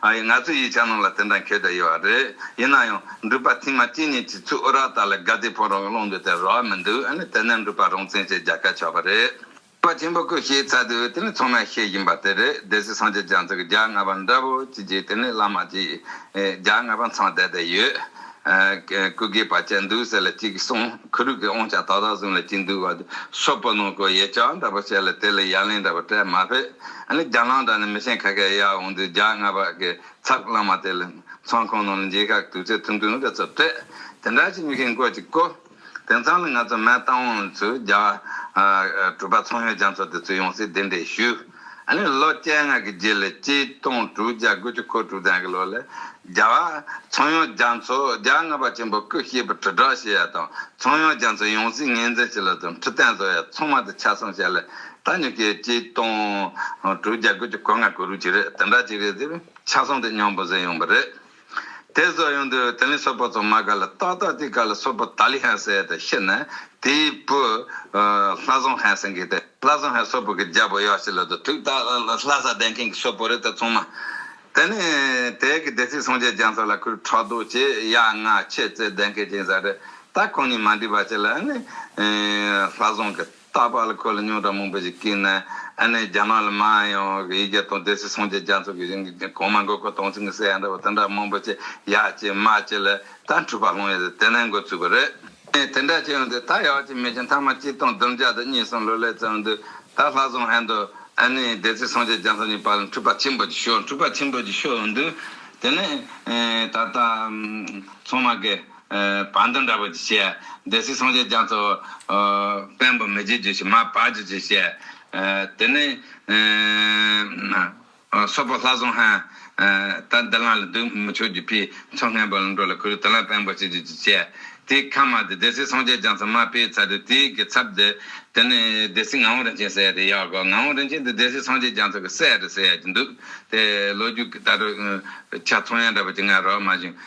ཨ་ཡེ་ང་ཚོ་ཡིས་ཆ་ནང་ལ་དེ་འདྲ་འཁེལ་བསྡད་ཡོད་རེད་ཡིན་ན་ཡང་འགྲུལ་པ་ཐེངས་མ་གཅིག་གཉིས་ཀྱི་ཚུད་ཨོ་རག་དག་ལ་དགའ་བདེའི་ཕོ་རོག་སློང་འདོད་དེ་རག་མི་འདུག་ཨ་ནི་དེ་ནས་འགྲུལ་པ་རང་བཙན་ཞེས་རྒྱ་སྐད་ཆགས་པ་རེད། འགྲུལ་པ་ཆེན་པོ་ཁོས་ཤེས་ཚར་དུས་དེ་ནི་ཚང་མས་ཤེས་བཞིན་པ་དེ་རེད་སྡེ་སྲིད་སངས་རྒྱས་རྒྱ་མཚོས་ཀྱི་རྒྱ་རྔ་པ་འདྲ་བོ་གཅིག་གིས་དེ་ནི་བླ་མ་གཅིག་རྒྱ་རྔ་པ་མཚང་བསྡད་བསྡད་ཡོད། སྐུ་སྒེག་བ་ཅན་འདུག་ཟེར་ལ་ཅིག་སོང་ཁུ་རུག་གི་ཨོང་ཆ་ཏག་ཏག་བཟུང་ལ་ཅིག་འདུག་བ་དུ་ཤོ་པོ་ནོ་ཀོ་ཡེ་ཅག་འདྲ་པོ་བྱས་ལ་དེ་ལ་ཡ་ལན་འདྲ་པོ་སྤྲད་མ་ཕེབས་ཨ་ནི་རྒྱ་ལང་འདྲ་ནི་མི་ཆེན་ཁ་ཁའི་ཡར་འོང་དུས་རྒྱ་རྔ་པ་གི་ཚག་བླངས་མ་དེ་ལ་མཚང་ཁང་ནང་ལ་འགྱིག་ཁ་གི་དུག་ཚད་ཐུང་ཐུང་གི་ཚོ་སྤྲད་དེ་འདྲ་ཅིག་མི་ཁེངས་སྐོར་ཅིག་བཀོད། དེང་སང་ལ་ང་ཚོ་མའི་ཏང་ཨུ་ཡོན་ཚོས་རྒྱ་གྲུ་པ་ཚོང་ཡོད་རྒྱ་མཚོ་དེ་ཚོས་ཡོང་སའི་གདན་འདྲེན་ཞུས། ཨཱ་ནི་ལོ་བཅད་ལྔ་གི་རྗེས་ལ་སྤྱི་སྟོང་དྲུག་བརྒྱ་དགུ་བཅུ་གོ་དྲུག་ཙམ་གྱི་ལོ་ལ། རྒྱ་བ། ཚོང་ཡོད་རྒྱ་མཚོ་རྒྱ་རྔ་པ་ཆེན་པོ་སྐུ་གཤེགས་པའི་དྲིལ་བསྒྲགས་བྱེད་ཡ་དང་ཚོང་ཡོད་རྒྱ་མཚོ་ཡོང་སའི་ངེས་འཛིན་བྱེད་ལ་དང་ཁྲི་བརྟན་བཟོ་ཡ་ཚང་མ་དེ་ཆ་ཚང་བྱས་ལ་ད་ཉོ་ཁའི་སྤྱི་སྟོང་དྲུག་བརྒྱ་དགུ་བཅུ་གོ་ལྔ་གོ་རུ་གྱི་རེད་དེ་འདྲ་གཅིག་རེད་དེ་བས་ཆ་ཚང་དེ་སྙོམས་པོ་བཟོས་ཡོང་པ་རེད། དེ་སོགས་ཡོང་དུས་དེ་ལས་སོགས་པ་ཚང་མ་ག་ལ་ཏག་ཏག་དེ་ག་ལ་སོགས་པ་ད་ལི་ཧན་སེ་ཏེ་ཤི་ན་དེའི་བུ། ལྷ་བཟང་ཧན་སེ་གི་ཏེ་ལྷ་བཟང་ཧན་སོགས་པོ་གི་རྒྱལ་པོ་ཡག་ཤི་ལ་དུ་ཐུག་ད་ལྷ་ས་ལྡན་མཁན་གི་སོགས་པོ་རེད་ད་ཚང་མ། དེ་ནས་དེའི་གི་སྡེ་སྲིད་སངས་རྒྱས་རྒྱང་ས་ལ་ཁུར་ཕྲག་དོག་བྱས་ཡ་ང་ཁྱེད་ཙེ་ལྡན་མཁན་ཅིང་ཟ་རེད་ད་ཁོང་གཉིས་མ་འདྲིས་པ་བྱས་ལ་ནི། ལྷ་བཟང་གི། རྟག་པར་ལ་ཁོ་ལ་རྙོག་དྲ་མང་པོ་ཞིག་བསྐྱིལ་ནས་ཨ་ནེ་རྒྱ་ནག་ལ་མ་ཡོང་བའི་ཡིག་བརྒྱ་དང་དེ་སྲིད་སངས་རྒྱས་རྒྱ་མཚོ་གི་རིང་གི་གོང་མ་མགོ་སྐོར་དྭངས་བསིང་གི་སའི་ཡ་འདྲ་བ་དེ་འདྲ་མང་པོ་ཆེ་ཡག་བྱས་དམའ་བྱས་ལ་ད་འཁྲུལ་པ་སློང་ཡ་ཟེར་དེ་ནས་འགོ་ཚུགས་པ་རེད། ངས་དེ་འདྲ་བྱས་ཡོང་དུས་ད་ཡག་བྱས་མེད་ཅིང་མཐའ་མ་གཅིག་སྟོང་བདུན་བརྒྱ་དང་གཉིས་སོང་ལོ་ལེགས་ཙམ་ཡོང་དུས་ད་ལྷ་བཟང་ཧན་དང་ཨ་ནེ་སྡེ་སྲིད་སངས་རྒྱས་རྒྱ་མཚོ་གཉིས་བར་ལ་འཁྲུལ་པ་ཆེན་པོ་ཅིག་ཤོར་འཁྲུལ་པ་ཆེན་པོ་ཅིག་ཤོར་ཡོང་དུས་དེ་ནས་ད་ལྟ་ཚང་མ་དགའི། བ་འདི་འདྲ་བོ་ཞེས་སྡེ་སྲིད་སངས་རྒྱས་རྒྱ་མཚོ། བེམས་པོ་མི་བརྗེད་རྒྱུ་ཞེས་མ་བར་གྱུར་ཅིག་ཞེས། དེ་ནས། སོག་པོ་ལྷ་བཟང་ཧན། ད་འདི་ལང་ལ་འདུག་མི་ཆོག་རྒྱུ་ཕའི་མཚོ་སྔན་པོ་ལ་འགྲོ་ལ་ཁུ་རུ་དེ་ལ་བེམས་པོ་ཞེས་རྒྱུ་ཅིག་ཅེས། དེའི་ཁ་མ་དེ་སྡེ་སྲིད་སངས་རྒྱས་རྒྱ་མཚོ་མ་སྤེལ་ཚར་དུས་དེའི་གི་ཚབ་དེ། དེ་ནས་སྡེ་སྲིད་ངག་དབང་རིན་ཆེན་སྲས་དེ་ཡག་གོ་ངག་དབང་རིན་ཆེན་དེ་སྡེ་སྲིད་སངས་རྒྱས་རྒྱ་མཚོ་གི་སྲས་རེད་ཟེར་ཡག་གྱི་འདུག་དེ་ལོ་རྒྱུས་ཀྱི་ལྟ་གྲུབ། ཆ་ཚང་ཡང་འདྲ་བོ་ཅི་ང་རོ་མ་བྱུང།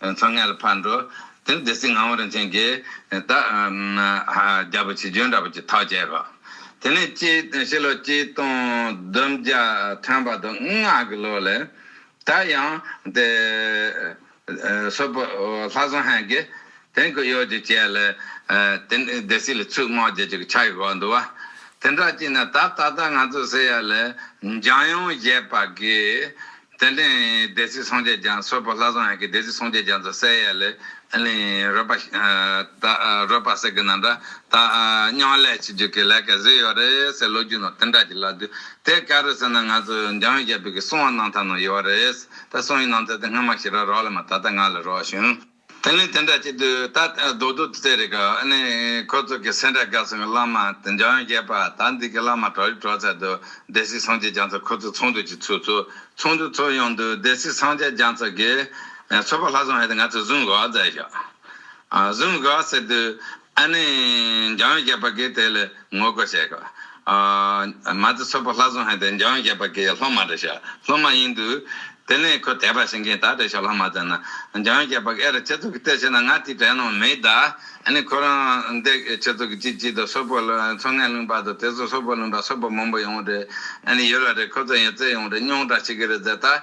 ཚོགས་ངན་ལ་ཕར་འགྲོ། དེ་ནས་སྡེ་སྲིད་ངག་དབང་རིན་ཆེན་གྱིས། ད་རྒྱལ་པོ་ཆེ་འབྱོན་འདྲ་པོ་ཅིག་ཐག་བཅད་རོགས། དེ་ནས་སྤྱི་ཕྱི་ལོ་གཅིག་སྟོང་བདུན་བརྒྱ་ཐམ་པ་དུ་ལྔ་གི་ལོ་ལས། ད་ཡང་དེ། སོ་པོ་ལྷ་བཟང་ཧན་གྱིས། དེང་གི་གཡོག་ཅིག་བྱས་ལ། དེ་ནས་སྡེ་སྲིད་ལ་ཚུལ་དམག་རྒྱལ་ཅིག་ཕྱག་གིས་བགོ་འདུག་བ། དེ་འདྲ་ཅིག་ན་ད་ད་ལྟ་ང་ཚོ་སེ་ཡ་ལ། འཇང་ཡོངས་བཞད་པ་གིས། དེ་ལས་སྡེ་སྲིད་སངས་རྒྱས་རྒྱ་མཚོས་པོ་ལྷ་བཟང་ཡག་གི་སྡེ་སྲིད་སངས་རྒྱས་རྒྱ་མཚོ་གསལ་ཡས་ལས་རོལ་པ་རོལ་པ་ཟེར་གི་ན་འདྲ་ད་སྙང་ལས་བྱེད་རྒྱུ་གི་ལས་ཀ་ཟིག་ཡོད་རེད་ཟེར་ལོ་རྒྱུས་ནང་དེ་འདྲ་གི་ལབ་དུས་དེ་ག་རེད་ཟེར་ན་ང་ཚོ་འཇང་ཡུལ་རྒྱལ་པོ་གི་སྲུང་བ་གནང་ཐབས་ནང་ཡོད་རེད་ད་སྲུང་ཡུལ་གནང་ཐབས་དེ་སྔོན་མ་ཞིག་ར་རོགས་ལ་མ་ད་ལྟ་ང་ལ་རོགས་བྱུང། དེ་ནི་དེ་འདྲ་ཅིག་དུས་ད་ལྟ་རྡོ་རྡོ་དུ་ཚེ་རིག་གི་ནི་ཁོ་ཚོ་གི་སེ་འདྲ་དགའ་སོང་གི་བླ་མ་དེ་འཇོན་རྒྱས་པ་ད་འདི་གི་བླ་མ་གྲོགས་རིག་གྲོགས་ཚད་དུ་སྡེ་སྲིད་སངས་རྒྱས་རྒྱ་མཚོ་ཁོ་ཚོ་ཚོགས་འདུ་གྱི་ཚུགས་ཚུགས་ཚོགས་འདུ་ཚོགས་ཡོང་དུས་སྡེ་སྲིད་སངས་རྒྱས་རྒྱ་མཚོ་གིས་ཚོགས་པ་ལྷ་བཟང་ཧད་དེ་ང་ཚོས་བཟུང་དགོས་བ་ཟེར་ཞོག་བཟུང་དགོས་བ་ཟེར་དུས་ཨ་ནི་འཇོན་རྒྱས་པ་གིས་དེ་ལས། ངོ་རྒོལ་བྱས། མ་རྩ་ཚོད་པོ་ལྷ་བཟོ་ཧན་དེ་འཇོན་རྒྱལ་པ་གི་སློབ་མ་རེད་ཤག་སློབ་མ་ཡིན་དུས། དེ་ནས་ཁོས་དད་པ་བྱེད་མཁན་དག་བྲེད་ཤག་ལྷ་མ་བཙལ་ན། འཇོན་རྒྱལ་པ་གི་ཨེ་ར་ཁྱེད་ཚོ་གི་ལྟས་བྱས་ན་ང་དེའི་གྲས་ནང་མེད་ད། ཨ་ནི་ཁོ་རང་འདས་ཁྱེད་ཚོ་གི་སྐྱིད་སྐྱིད་དང་སོ་པོ་ཚོ་ངས་བླུན་པ་དང་དེ་ཚོ་སོ་པོ་བླུན་པ་སོ་པོ་མང་པོ་ཡོང་རེད་ཨ་ནི་ཡོད་ར་རེད་ཁོ་ཚོ་ཡང་བཙལ་ཡོང་རེད་རྙོག་དྲ་ཆེ་གི་རེད་ཟེར་ད།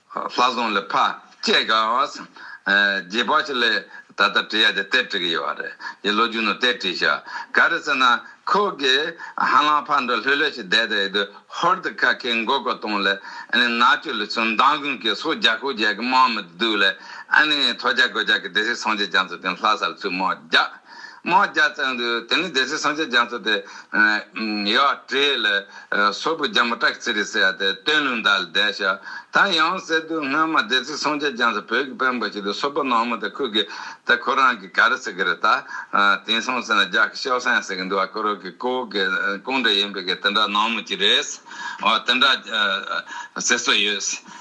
ལྷ་བཟང་ལས་ཕ་སྐྱེས་དགའ་བ་བསམ། རྗེས་དཔག་ཆེ་ལས་ད་ལྟ་བྲིས་ཡ་དེ་གཏེར་བྲིས་ཀྱི་ཡོད་བ་རེད་ཡི་ལོ་རྒྱུས་ནང་གཏེར་བྲིས་ཤག་ག་རེད་ཟེར་ན་ཁོ་གི་ཧ་ལམ་ཕ་འདྲ་ལྷོད་ལྷོད་ཞིག་བསྡད་དེ་ཡི་དུས་ཧོར་དུ་ཁ་ཁེ་མགོ་སྐོར་བཏང་ལས་ཨཱ་ནི་ནག་ཆུ་ལི་ཚུ་མདང་དགོན་གྱི་སོག་རྒྱ་ཤོག་རྒྱལ་གྱི་དམག་མི་དུ་སྡུག་ལས་ཨཱ་ནི་ཐོ་རྒྱ་གོ་རྒྱ་གི་སྡེ་སྲིད་སངས་རྒྱས་རྒྱ་མཚོ་དེ་ལྷ་ས་ལི་ཚུ་དམག་རྒྱག་དམག་རྒྱ་བཙན་དུ་དེ་ནི་སྡེ་སྲིད་སངས་རྒྱས་རྒྱ་མཚོ་སྟེ། ཡ། བྲེ་ལ། སོར་བུ་རྒྱ་མོ་ཏྲཀ་ཚི་རི་སེ་ཡ་སྟེ་སྟོན་ལུང་དག་ལ་བསྡད། ད་ཡང་གསེར་རྡུལ་སྔོན་མ་སྡེ་སྲིད་སངས་རྒྱས་རྒྱ་མཚོ་བོད་ཀྱི་དཔོན་པོ་ཞིག་ལ་སོ་པ་ནོར་མོ་དེ་ཁུར་གི་དེ་ཁོ་རང་གི་ག་རེ་ཟེར་གི་རེད་ད། དེང་སང་ཟེར་ན་རྒྱ་གི་ཤའོ་སན་ཟེར་གི་འདུག་བ་ཁོ་རང་གི་ཀོ་བོ་གི་ཀོང་སྒྲ་ཡིན་པའི་གི་དེ་འདྲ་ནོར་མོ་ཅིག་རེད། དེ་འདྲ། ཟེར་སྲོལ་ཡོད།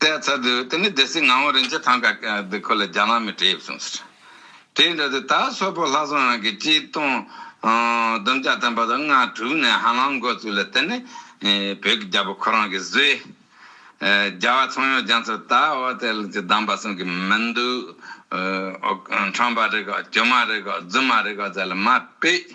བལྟས་ཚར་དུས་དེ་ནི་སྡེ་སྲིད་ངག་དབང་རིན་ཆེན་ཐང་ག་འདི་ཁོ་ལ་རྒྱ་ནག་མིས་དྲེད་བྱུང་ཟེར། དྲེད་འདྲ་དེ་ད་སོ་ཕོ་ལྷ་བཟང་རང་གི་སྤྱི་བཏང། བསྡོམས་བརྒྱ་བསྟན་པ་དང་ང་དྲུག་ནས་ཧ་ལམ་འགོ་བཙུགས་ལ་དེ་ནི་བོད་ཀྱི་རྒྱལ་པོ་ཁོ་རང་གིས་བཟོས། རྒྱལ་བ་ཚོང་ཡོག་རྒྱ་མཚོ་ད་འོ་དེ་ལ་ཅི་གདམས་པ་གསུང་གི་མི་འདུག། འཕྲང་པ་རེ་ག་གྱོ་མ་རེ་ག་རྫུན་མ་རེ་ག་ཟེར་ལ་མ་དཔེ།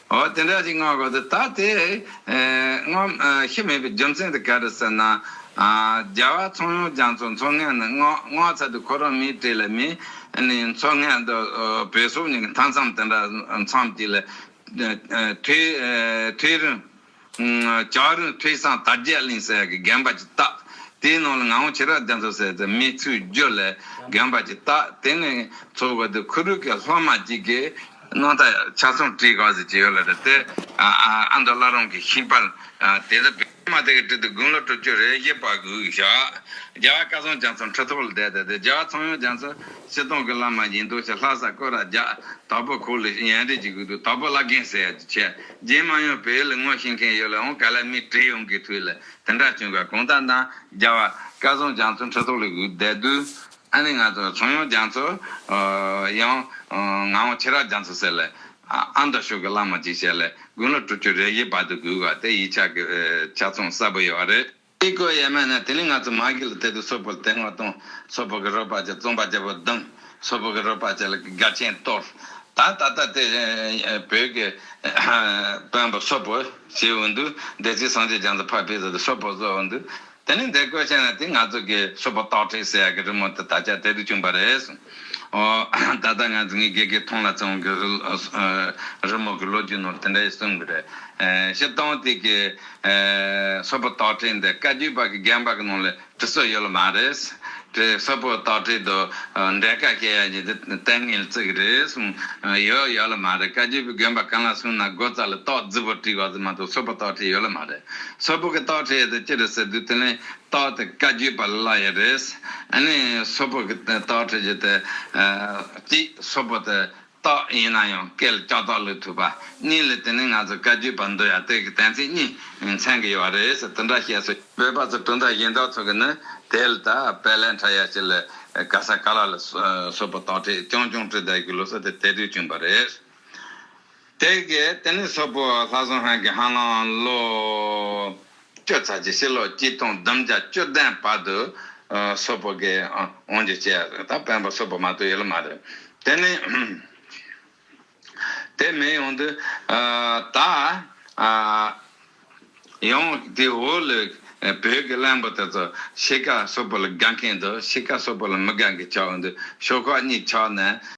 འོ་དེ་འདྲ་ཞིག་སྔ་གོ་ཟེར་ད་དེ་སྔོན་ཤི་མེད་པའི་རྒྱུ་མཚན་དེ་ག་རེ་ཟེར་ན། རྒྱ་བལ་ཚོང་ཡོང་རྒྱ་མཚོ་མཚོ་སྔས་ནི་སྔོ་ཚལ་དུ་ཁོ་རང་མིའི་གྲས་ལ་མི་ནི་མཚོ་སྔས་དུ་བོད་སོག་གཉིས་ཀྱི་མཐའ་མཚམས་དེ་འདྲ་མཚམས་གཅིག་ལ། དུས་རིང། ལྕགས་རིང་ཕེག་སངས་དར་རྒྱས་གླིང་ཟེར་གྱི་རྒན་པ་ཅིག་བཏགས། དེའི་ནང་ལ་ངང་བོ་ཆེ་རག་བརྒྱ་མཚོ་ཟེར་དེ་མི་ཚུལ་བརྒྱུད་ལས་རྒན་པ་ཅིག་བཏགས། དེ་ནས་ཚོ་བོད་དུ་ཁུ་རུ་ཀའི་ལྷོ་མ་ཅིག་གི། སྣང་ཐ་ཆ་སུམ་བྲིས་ག་ཟེར་ཅིག་ཡོད་ལ་རེད་དེ། ཨ་མདོ་བླ་རུང་གི་ཤིང་པར་དེ་དག་བེད། མ་དེ་གི་བྲིས་ཏེ་དགུང་ལོ་དྲུག་ཅུ་རེ་བཞི་པ་གུག་བཞག། རྒྱ་བཀའ་ཚང་རྒྱ་མཚོ་མཁྲིས་ཐོག་ལ་བསྡད་དེ་རྒྱ་བ་ཚང་ཡང་རྒྱ་མཚོ་སྤྱི་སྟོང་གི་བླ་མ་ཡིན་འདུག་ཞེས་ལྷ་ས་བསྐོས་ར་རྒྱ་དྭགས་པོ་ཁུག་ལ་ཡན་རིགས་ཀྱི་གུག་ཏུ་དྭགས་པོ་བླ་རྒན་ཟེར་གྱི་ཆེ་རྗེས་མ་ཡང་བོད་ཡུལ་ངོ་ཤེས་མཁན་ཡོད་ལ་འོང་ག་ལ་མི་བྲེལ་ཡོང་གི་དུས་ལ་དེ་འདྲ་བྱུང་ག་གོང་ཐང་དང་རྒྱ་བ་སྐལ་བཟང་རྒྱ་མཚོ་འཁྲིད་ཐོག་ལ་བསྡད་དུས་ཨ་ནེ་ང་ཚོ་ཚོང་ཡོང་རྒྱ་མཚོ་ཡང་ང་འོང་ཁྱེད་རག་རྒྱ་མཚོ་ཟེར་ལ་ཨ་མདོ་ཕྱོགས་ཀྱི་བླ་མ་ཅིག་བྱས་ལ་དགུན་ལོ་དྲུག་ཅུ་རེ་བཞི་བར་དུ་བསྒུགས་བ་དེ་ཡིད་ཆགས་ཀྱི་ཆ་ཚང་གསལ་པོ་ཡོད་རེད། ཨི་ཀོ་ཡེ་མེ་ནི་དེ་ནས་ང་ཚོ་མ་གི་ལ་དེ་དུ་སོ་པོ་དེ་སྔོ་དུང་སོ་པོ་གི་རོ་པ་ཅེ་བཙོང་པ་ཅེ་བོ་དུང་སོ་པོ་གི་རོ་པ་ཅེ་ལ་གི་ག་ཆེན་གཏོར་ད་ད་ད་དེ་བོད་གི་བོན་པོ་སོ་པོ་ཞེ་བོ་འདུག་བདེ་ཆེན་སངས་རྒྱས་བྱང་ཚ་ཕ་བི་ད་དུ་སོ་པོ་བཟོ་བོ་འདུག་དེ་ནས་འདེ་ཀོ་ཆེན་ན་དེ་ང་ཚོ་གི་སོ་པོ་སྟག་ཁྲི་སེ་ཡ་གི་རི་མོ་དེ་ད་ཆ་དེ་དུ་བྱུང་པ་རེད། ད་ལྟ་ང་ཚོས་ངའི་དགེ་རྒན་ཐོང་ལ་ཚེ་དབང་གིས་རི་མོ་གི་ལོ་རྒྱུས་ནང་དེ་འདྲ་ཞིག་གསུངས་གི་རེད། ཞེས་ཏང་ཨུ་དེ་གའི་སོ་པོ་རྟགས་བྲིས་འདི་བཀའ་བརྒྱུད་པ་གི་རྒན་པ་གི་ནང་ལ་བྲི་སྲོལ་ཡོད་ལ་མ་རེད། དེ་སོ་པོ་རྟགས་བྲིས་དུ་འགྲེལ་དཀའ་སྐད་ཡག་ཡིན་དེ་ལྟས་ངན་ལ་བརྩི་གི་རེད་གསུངས། ཡོད་ཡོད་ལ་མ་རེད་བཀའ་བརྒྱུད་པའི་དགོན་པ་གང་ལ་གསུངས་ན་སྒོ་རྩར་ལ་རྟགས་རྫིག་པོ་བྲིས་དགོས་ཟེར་མ་གཏོགས་སོ་པོ་རྟགས་བྲིས་ཡོད་ལ་མ་རེད། སོ་པོ་གི་རྟགས་བྲིས་ཡོད་དེ་ཅི་རེད་ཟེར་དུས་དེ་ལན་རྟགས་དེ་བཀའ་བརྒྱུད་པ་ལ་ཡང་རེད། ནི་སོ་ཕག་གི་རྟགས་ཁྲིད་རྒྱུ་དེ། གཅིག་སོ་ཕག་དེ་རྟགས་ཡིན་ན་ཡང་སྐད་ལ་ལྕགས་རྟགས་བླུགས་ཐུབ་པ། གཉིས་ལ་དེ་ནི་ང་ཚོ་བཀའ་བརྒྱུད་པ་འདུལ་ཡང་དེ་གི་གཏན་ཚིགས་གཉིས་མཚན་གི་ཡོད་རེད་ཟེར་དེ་འདྲ་བཤད་སྲོལ། བོད་པ་ཚོ་གྲུབ་མཐའ་གཞན་དག་ཚོ་གི་ནི་དེ་ལ་ད་བལ་ལན་ཕྲ་ཡ་ཞིག་ལ་ག་ས་ག་ལ་ལ་སོ་ཕག་རྟགས་ཁྲིད་རྐྱང་རྐྱང་ཁྲིད་བསྡད་རྒྱུ་ལོ་སོ་དེ་དེ་དུས་བྱུང་པ་རེད། དེ་གའི་ལྟེ་གནས་སོག་པོ་ལྷ་ཟུང་ཧན་གྱི་ཧན་ལང་ལོ་ཀྱོ་ཚ་ཆེ་ཕྱི་ལོ་གཅིག་སྟོང་བདུན་བརྒྱ་བཅུ་ལྡན་བར་དུ་སོག་པོ་གའི་དབང་བྱས་ཏེ་ད་སྤེན་པ་སོག་པོ་མ་གཏོགས་ཡོད་ལ་མ་རེད། དེ་ནི་དེ་མེད་ཡོང་དུས་ད་ཡང་དེ་འོག་ལོའི་བོད་ཀྱི་གླེན་པོ་དེ་ཚོ་ཕྱི་ག་སོག་པོ་ལ་དགའ་མཁན་དང་ཕྱི་ག་སོག་པོ་ལ་མི་དགའ་མཁན་ཆགས་འོང་དུས་ཤོག་ཁག་གཉིས་ཆགས་ནས།